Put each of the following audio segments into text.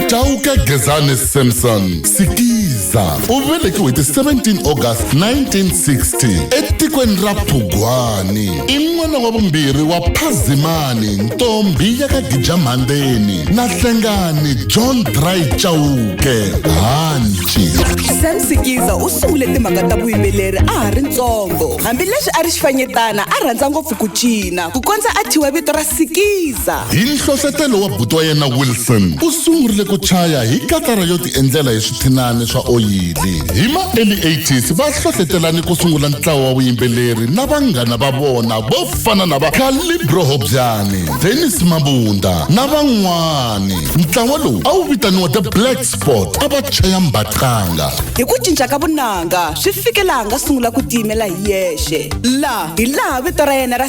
chauke gezani samson sikiza u velekiwe ti 17 august 1960 etikweni ra phugwani i n'wana wa vumbirhi wa phazimani ntombi ya ka gijamhandeni na hlengani john dry chauke hanci sam sikiza u sungule timhaka ta vuyimbeleri a ha ri ntsongo hambileswi a ri xifanyetana a rhandza ngopfu ku cina ku kondza a thyiwa vito ra sikiza Sa. Hi nhlohlotelo wa buti wa yena Wilson, u sungurile ku chaya hi katara yo tiendlela hi swithinani swa oyili. Hi ma early 80s va hlohletelane ku sungula ntlawa wa vuyimbeleri na vanghana va vona vo fana na va Calibro Hobyani, Dennis Mabunda na van'wani. Ntlawa lowu a wu vitaniwa The Black Spot a va chaya mbaqanga. Hi ku cinca ka vunanga swi fike laha nga sungula ku tiyimela hi yexe. La hi laha vito ra yena ra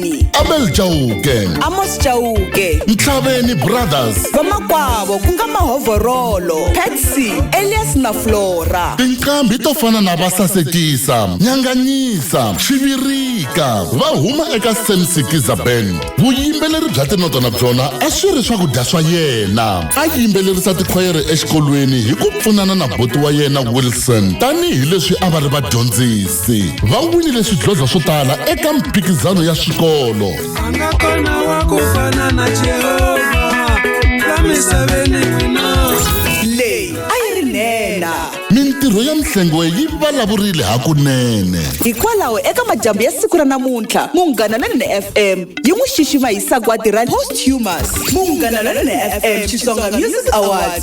Mtini, abel chauke Amos Chauke, ntlhaveni brothers vamakwavo ku nga Mahovorolo, Patsy, Elias na Flora. tinqambi to fana na vasasekisa nyanganyisa xivirika va huma eka semsikiza band vuyimbeleri bya tinota na byona a swi ri swakudya swa yena a yimbelerisa tikhwayere exikolweni hi ku pfunana na boti wa yena wilson tanihi leswi a va ri vadyondzisi se va winile swidlodlo swo tala eka mphikizano ya swikolo angakona wa ku fana na jehova la misaveni wina leyi a yi ri nhenha mintirho ya mihlengo yi vulavurile hakunene hikwalaho eka madyambu ya siku ra namuntlha munghana lonene fm yi n'wi xixima hi sagwadi ra posthumous munghana lonene fm xitsonga music awards